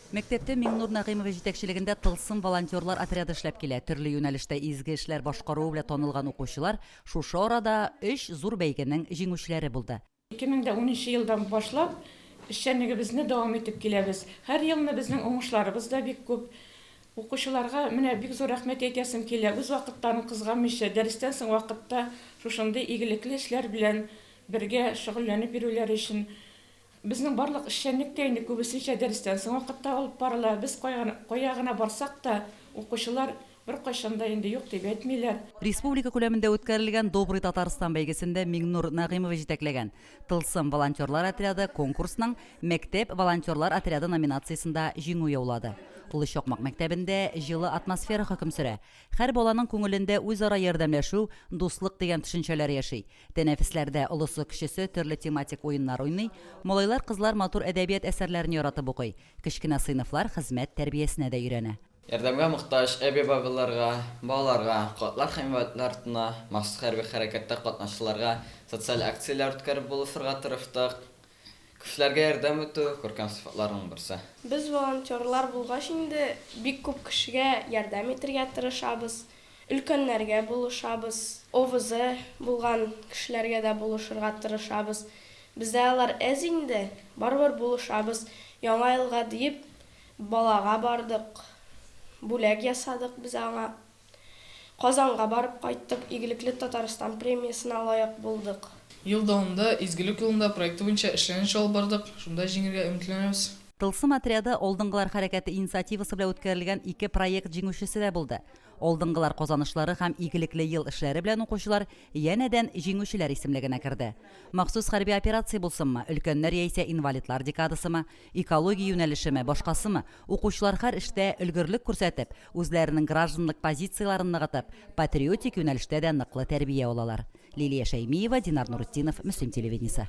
Мәктәптә Миңнур Нәгыймович җитәкчелегендә Тылсым волонтерлар отряды эшләп килә. Төрле юнәлештә изге эшләр башкаруы белән танылган укучылар шушы арада өч зур бәйгенең җиңүчеләре булды. 2010 елдан башлап эшчәнлегебезне дәвам итеп киләбез. Һәр елны безнең уңышларыбыз да бик күп. Укучыларга менә бик зур рәхмәт әйтәсем килә, үз вакытларын кызганмыйча, дәрестән соң вакытта шушындый игелекле эшләр белән бергә шөгыльләнеп йөрүләре өчен. Безнең барлык эшчәнлек тә инде күбесенчә дәрестән соң вакытта алып барыла. Без кая гына барсак та, укучылар беркайчан да инде юк дип әйтмиләр. Республика күләмендә үткәрелгән Добрый Татарстан бәйгесендә Миңнур Нәгыймов җитәкләгән Тылсым волонтерлар отряды конкурсның Мәктәп волонтерлар отряды номинациясендә җиңү яулады. Олы Чакмак мәктәбендә җылы атмосфера хөкем сөрә. Һәр баланың күңелендә үзара ярдәмләшү, дуслык дигән төшенчәләр яши. Тәнәфесләрдә олысы-кечесе төрле тематик уеннар уйный, малайлар-кызлар матур әдәбият әсәрләрен яратып укый, кечкенә сыйныфлар хезмәт тәрбиясенә дә өйрәнә. Ярдәмгә мохтаҗ әби-бабаларга, балаларга, картлар һәм инвалидлар йортына, махсус хәрби хәрәкәттә катнашучыларга социаль акцияләр үткәреп булышырга тырыштык. Кешеләргә ярдәм итү, күркәм сыйфатларның берсе. Без волонтерлар булгач инде, бик күп кешегә ярдәм итергә тырышабыз, өлкәннәргә булышабыз, овызы булган кешеләргә дә булышырга тырышабыз. Бездә алар әз инде, барыбер булышабыз. Яңа елга диеп, балага бардык, бүләк ясадык без аңа. Казанга барып кайттык, Игелекле Татарстан премиясенә лаек булдык. Ел дәвамында Изгелек юлында проекты буенча эшләнеш алып бардык, шунда җиңергә өметләнәбез. Тылсым отряды Алдынгылар хәрәкәте инициативасы белән үткәрелгән ике проект җиңүчесе дә булды. Алдынгылар казанышлары һәм Игелекле ел эшләре белән укучылар янәдән җиңүчеләр исемлегенә керде. Махсус хәрби операция булсынмы, өлкәннәр яисә инвалидлар декадасымы, Экология юнәлешеме, башкасымы, укучылар хәр эштә өлгерлек күрсәтеп, үзләренең гражданлык позицияләрен ныгытып, патриотик юнәлештә дә ныклы тәрбия алалар. Лилия Шәймиева, Динар Нуретдинов, Мөслим телевидениесе.